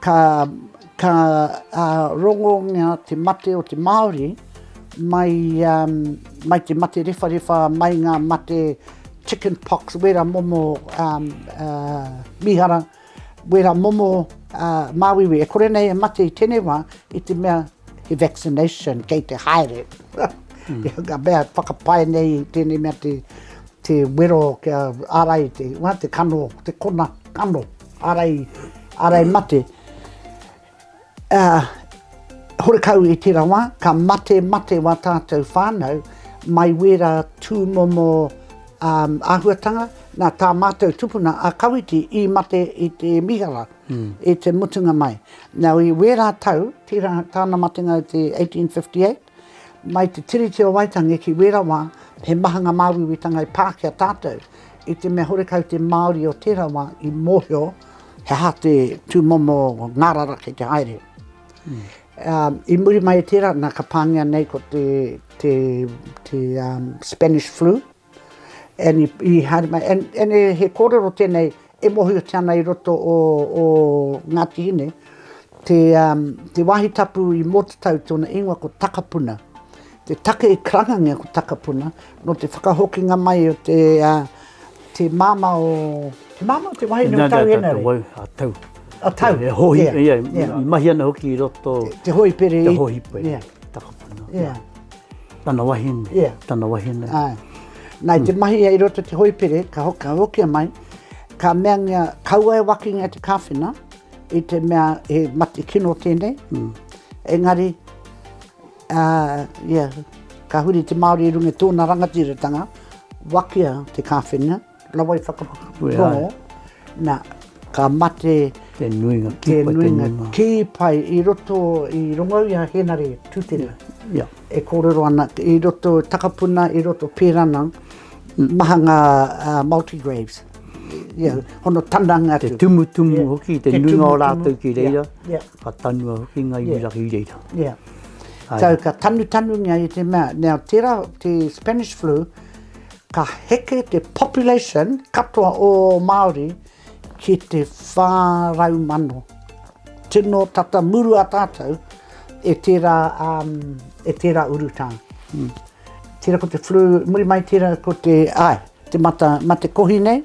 Ka, ka rongo ngia te mate o te Māori mai, mai te mate rewharewha, mai ngā mate chicken pox, wera momo mīhara, wera momo māuiui. E kore nei e mate i tenei wā, i te mea he vaccination kei te haere. Ka mea whakapae nei i tenei mea te, te wero kia ārai te, te kano, te kona kano. Ārai, ārai mate. Ā, horekau i tērā wā, ka mate, mate wā tātou whānau, mai wērā tūmomo āhuatanga, nā tā mātou tupuna a Kawiti i mate i te mīhara, i te mutunga mai. Nau i wērā tau, tērā, tāna matenga i te 1858, Mai te Tiriti o Waitangi ki wera wa, he maha nga māuiuitanga i pā ki a tātou. I te mea horekau te Māori o tera wa i mohio he aha te tumomo ngarara kei te haere. I muri mai i tera, na ka pāngia nei ko te Spanish Flu. And i haere mai, and he kōrero tēnei e mōhiotia ana i roto o Ngāti Hine, te wāhi tapu i Mōtatau tōna ingoa ko Takapuna. Te take i karangangia ko Takapuna, nō te whakahokinga mai o te māmā o, te māmā o te wahine o Tauhenare? A Tau. A Tau. E hōhi, ia, i mahi ana hoki i roto. Te hōhipere. Te hōhipere. Takapuna. Ia. Tana wahine. Ia. Tana wahine. Ai. Nā, i te mahi ia i roto te hoipere, ka hoki, ka hokia mai, ka meangia, kaua e wakingia te kāwhena, i te mea he mate kino tēnei. Mm. Engari, uh, yeah, ka huri te Māori i runga tōna rangatiratanga, wakia te kāwhena, Rawa i whakapakaputoro, na, ka mate te nuinga kī pai i roto i rongo i a Henare Tutera, e kōrero ana i roto takapuna, i roto pērana, maha ngā multi-graves, hono tananga atu. Te tumutumu hoki, te nuinga o rātou ki reira, ka tanua hoki ngā iwi raki i reira. Ia, tau ka tanutanungia i te mea, nā tērā te Spanish flu, Ka heke te population katoa o Māori ki te 400,000. Tino tata murua tātou e tērā, e tērā urutā. Tērā ko te flu, muri mai tērā ko te, āe, te mata, mate kohi nei.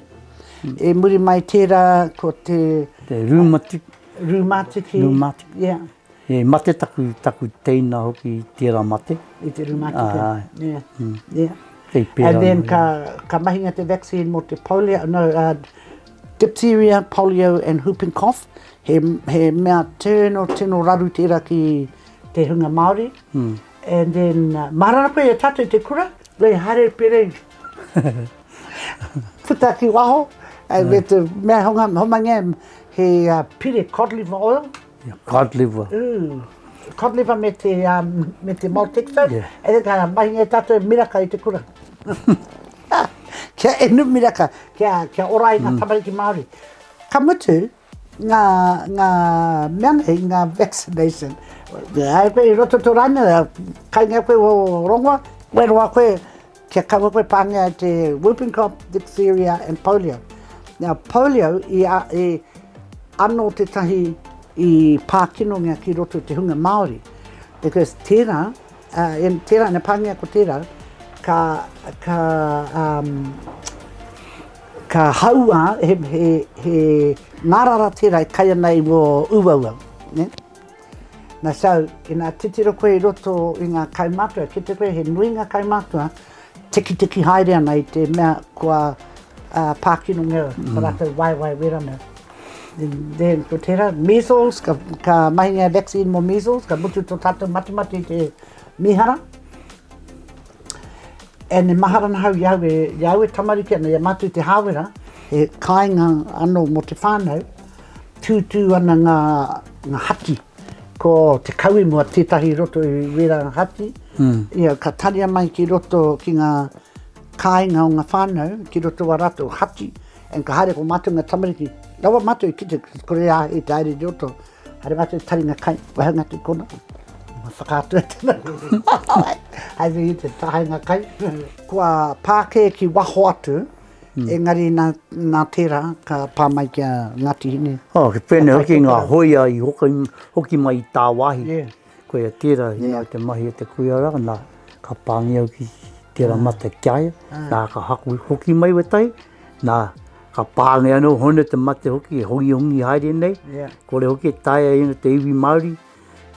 E muri mai tērā ko te... Te rūmatiki. Rūmatiki. Rūmatiki. Yeah. He mate taku, taku teina hoki i tera mate. I te rūma atu pea. Āe. Yeah. Mm. Yeah. Kei pera. And then ka, ka mahinga te vaccine mo te polio, no, uh, diphtheria, polio and whooping cough. He, he mea tino, tino raru tera ki te hunga Māori. Mm. And then, uh, marara koe e tātou te kura, rei hare perei. Puta ki waho, and yeah. me te mea honga, homangia, he uh, pire cod liver oil. Ia cod liver. Ooh, cod liver me te, um, me te maltexo. Yeah. E reka, mahinga e tatou e miraka i te kura. kia inu miraka, kia, kia ora ai mm. ngā tamariki Māori. Ka mutu, ngā, ngā mea nei, ngā vaccination. Ai koe i roto tō rāna, kai ngā koe o rongoa, wero a koe, Kia kaua koe pāngia e te whooping cough, diphtheria and polio. Now polio i a, e, ano tetahi i pākinongia ki roto i te hunga Māori. Because tērā, uh, in, tērā, ina pāngia ko tērā, ka, ka, um, ka haua he, he, he ngārara tērā e kai ana i wō uaua. Ne? Na so, ina titiro koe i roto i nga kaumatua, kite koe he nui nga kaumatua, tekiteki haere ana i te mea kua pakinongia o ratou waewae wera mea. Then ko tera, measles, ka mahingia e vaccine mo measles, ka mutu to tatou matemate i te mihara. And e mahara ana hau i au e, i au e tamariki ana, i a matou te hawera, he kainga ano mo te whanau, tutu ana nga Nga hati. Ko te kawe mua tetahi i roto i wera nga hati. Ia ka taria mai ki roto ki nga kainga o nga whanau ki roto wa ratou hati and ka haere ko matou nga tamariki rawa matou i kite kore a hei te haere i roto haere matou i taringa kai wahi anga ki kona ma whakaatu e tana haere i te tahainga kai kua pa ke ki waho atu Engari nā, nā tērā ka pā mai ki a Ngāti Hine. Oh, he pēnei hoki ngā hōia i hoki, hoki mai i tāwāhi. Yeah. Koia tērā, he yeah. te mahi o te kuia rā, nā, ka pāngi au ki tērā ah. mate ki aia, ah. nā, ka haku hoki mai we tai, nā, ka pāngi anō hone te mate hoki, e hongi hongi haere nei, yeah. kore hoki e taia ina te iwi Māori,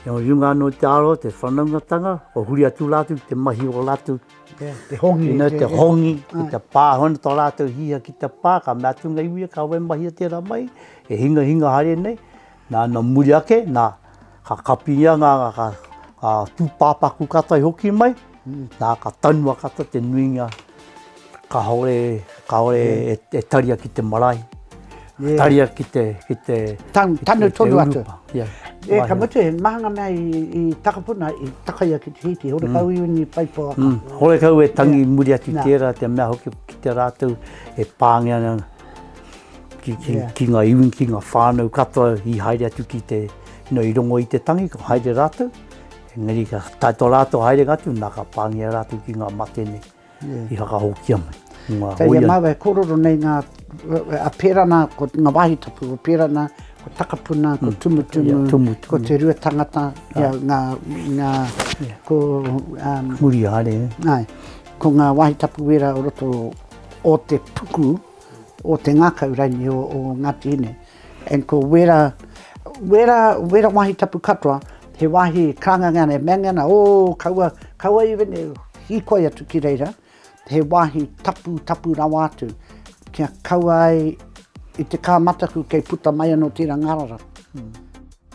e o runga anō te aro, te whanaungatanga, o huri atu rātou te mahi o rātou, Te hongi. Tino te hongi, ki te pā, hono tō rātou hiha ki te pā, ka mea atu ngā iwi, ka wai mahia tērā mai, he hinga hinga haere nei, nā, nō muri ake, nā, ka kapingia ngā, ka, ka tūpāpaku katoa i hoki mai, nā, ka tanua katoa te nuinga, kāore, kāore e, e taria ki te marae. Yeah. Taria ki te, ki te, Tan, ki tanu te, tonu te atu. Yeah. Yeah, ka mutu, he mahanga mea i, i takapuna, i takaia ki te hiti, hore mm. kau i uni paipoa. Mm. Hore kau e tangi yeah. muri atu yeah. tērā, te mea hoki ki te rātou, e pāngea nga, ki, ki, yeah. ki ngā iwi, ki ngā whānau katoa, i haere atu ki te, no, i rongo i te tangi, ko haere rātou. Engari, ka taito rātou haere ngatu, nā ka pāngea rātou ki ngā mate nei. i whakahokia mai. Kei a māua e kōrero nei ngā, a pērā nā, ko ngā wāhi tapu, ko pērā nā, ko Takapuna, ko mm. Tumutumu, Tumutumu, ko Te Rua Tangata, ia, ah. ngā, ngā, ko... Um, Muriare. Nāi, ko ngā wāhi tapu wera o roto o te puku, o te ngakau raini o o Ngati ine and ko wera wera wera wahi tapu katoa he wahi kanganga nei mea nge na oo kaua kaua even e hikoi atu ki reira he wahi tapu tapu rawa atu kia kaua ai i te ka mataku kei puta mai ano tera ngarara.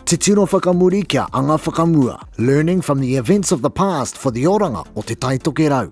Te tino whakamuri kia anga whakamua, learning from the events of the past for the oranga o te tai tokerau.